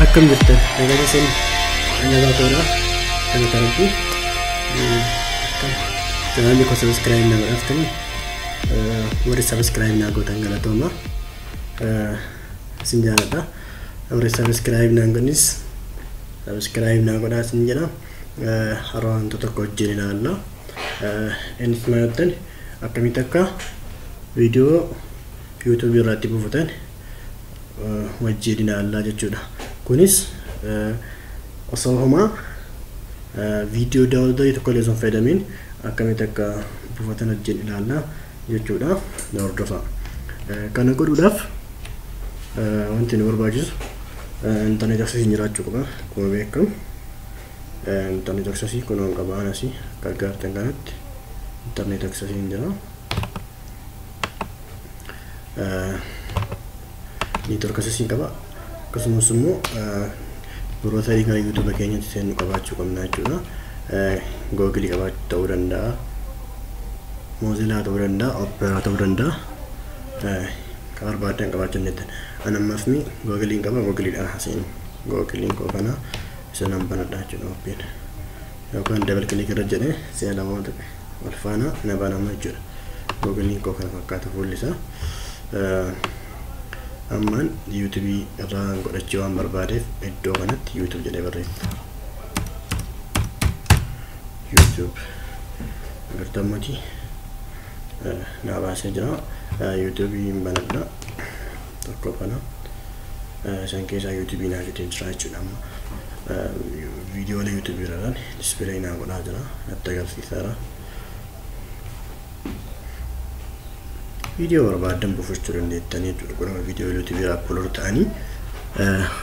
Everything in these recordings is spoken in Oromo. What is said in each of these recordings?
akkam jirtan nagaa keessan nagaa ta'uudha kan tarantu chanaanni koo sabiskiraayib na godhaftani warri sabiskiraayib naa gootan galatooma isin jaaladha Warri subscribe naan godhanis subscribe naa godhaa isin jedha. Har'a wanta tokko wajjin ilaalla. Innis maal jettan akkamitti akka viidiyoo YouTube irratti buufatan wajjin ilaallaa jechuudha. Kunis osoo homaa viidiyoo daawwatanii tokko illee osoo hin fayyadamiin akkamitti akka buufatan wajjin ilaalla. jechuudhaaf na hordofaa. Kana godhuudhaaf wanti nu barbaachisu intarneet aksesii jiraachuu qaba. Akkuma beekamu intarneet aksesii kunoon qaba anasi akka argaartan kanatti intarneet aksesii hin jira. Neetwork aksesii qaba. Akkasumas immoo birootarii gara YouTube keenyatti seennu qabaachuu qabna jechuudha. Google qabaachuu ta'uu danda'a. Mozilla ta'uu danda'a. Opera ta'uu danda'a. Kan barbaadan qabaachuu dandeettan. An ammaaf mi Google'n qaba Google'dhaan haa seenu. Google'n koo kana isa nan banadha jechuudha oppiin. Yookaan dabal kilik irra jedhee si'a lamaa tuqe wal faana na banama jechuudha. Google'n koo kana fakkaata fuulli isaa. ammaan youtube irraa godhachuu waan barbaadeef iddoo kanatti youtube jedhee barreessa youtube agartammooti naa baasee jira youtube hin banadha tokko kana isan keessaa youtube naa fidee jira jechuudha amma viidiyoolee youtube irraan dispilay naa godhaa jira natti agarsiisaara viidiyoo barbaaddan buufachuu dandeettanii jechuudha kun amma viidiyoo yuutuubiirra aplood ta'anii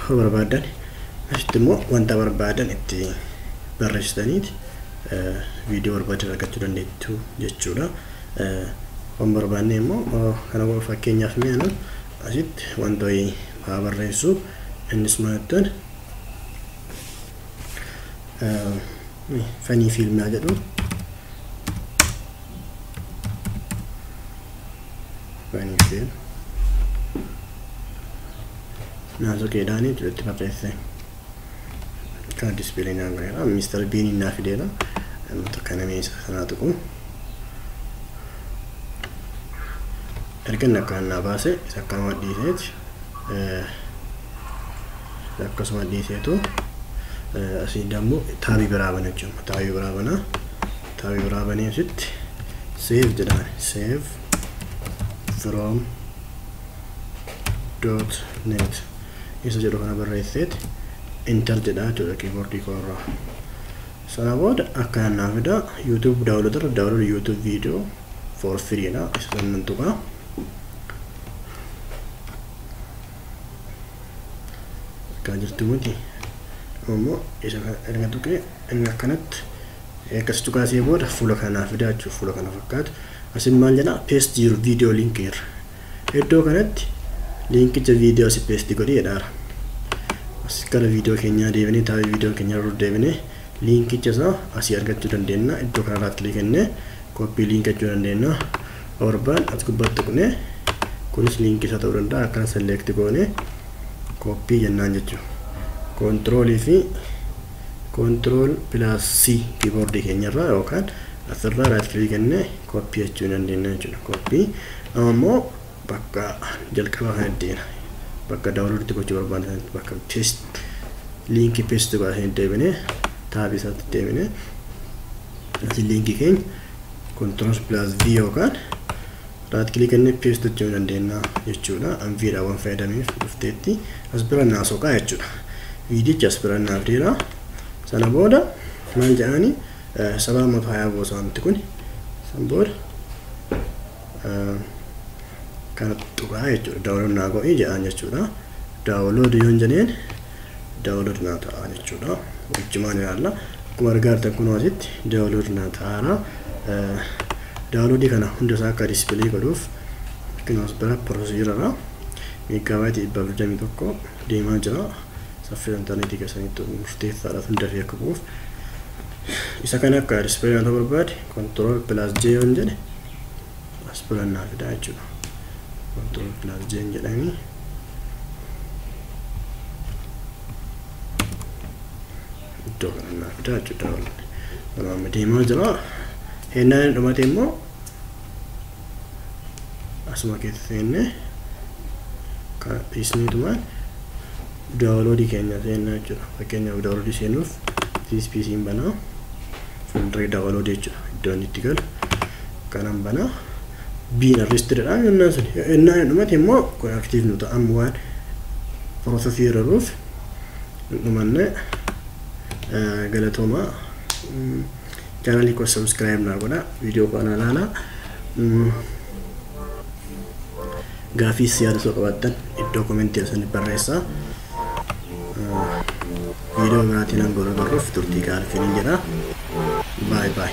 yoo barbaaddan asitti immoo wanta barbaadan itti barreessitaniiti viidiyoo barbaadan argachuu dandeettu jechuudha waan barbaanne immoo kana qofa fakkeenyaaf mee anu asitti wanta wayii haa barreessu innis maattan fanii fiilmii haa jedhu fanii fiil naasoo keedhaanii itti barreesse kana dispilee naan godheera mister biiniin naa fideera ammatu kana meeshaa sanaa tuqu erga inni akkaan naa baase isa akkaan waan dhiiseeti akkasuma dhiiseetu asii dammoo taabii biraa bana jechuudha. Taabii biraa bana. Taabii biraa banee asitti save jedhaan save from dot net isa jedhu kana barreesseeti enter jedhaa jechuudha kiiboordii koo irraa. Sana booda akkana naa fida YouTube download irra download YouTube video for free dha isa sannan tuqaa. argaa jirtu miti ammoo isa kana erga tuqee inni akkanatti akkas tuqaasee booda fuula kanaa fidaa jechuudha fuula kana fakkaatu asin maal jedha paste your video link irra iddoo kanatti liinkicha viidiyoo si paste godhi jedhaara as gara viidiyoo keenyaa deebinee taa'ee viidiyoo keenyaa irra deebinee liinkicha isaa asii argachuu dandeenya iddoo kanarraa kilikii kennee copy link jechuu dandeenya torbaan as gubbatti tuqne kunis link isa ta'uu danda'a akkan select goone copy jennaan jechuu control fi control plus c keyboard keenyarraa yookaan asirraa right click kennee copy jechuu dandeenya jechuudha copy amma immoo bakka jalqabaa kan ittiin bakka download itti gochuu barbaanne sanatti bakka paste link paste godhanii deebine taabii isaatti deebine Asi liinkii keenya controls plus v yookaan right click inni paste hojjechuu dandeenya jechuudha. An v dha waan fayyadameef dhufteetti as bira naa soqaa jechuudha. Viidichi as bira naaf dheera. Sana booda maal jedhaani sabaa matu hayaa boosa wanti kun san booda kana tuqaa jechuudha. Daawulood naa godhii jedhaan jechuudha. Daawulood yoon jedheen download naa ta'a jechuudha wajjumaan ilaalla akkuma argaa jirtan kunoo asitti download naa ta'aara download kana hunda isaa akka display godhuuf kunoo as bira procedure irra meeggaabaayiti dhibba afur jamii tokko deemaa jira saffisa intarneetii keessanitti murteessaadha hunda fi akka bu'uuf isa kana akka display naa ta'uu barbaade control plus j waan jedhe as bira naa fidaa jechuudha control plus jeen jedhani iddoo kana naa fidaa jechuudha yeroo amma deemaa jira hennaa inni dhumate immoo asuma keessa seenne kana dhiisneetumaan Download keenya seennaa jechuudha. Fakkeenyaaf download seenuuf this PC hin banaa. Folder download jechuudha. Iddoo inni itti galu kanan banaa. Biin arrestedha yennaa sun. Yennaa hin dhumate immoo kun active nu ta'a. Amma waan processii irra jiruuf hin dhumanne galatoomaa. Chaanalii koo subscribe naa godhaa. Viidiyoo koo anaa ilaalaa. Gaafiis yaada osoo qabaattan iddoo komentii asirratti barreessaa. Viidiyoo biraatiin hanga wal agarruuf turtii gaarii isiniin jedha. Baay baay.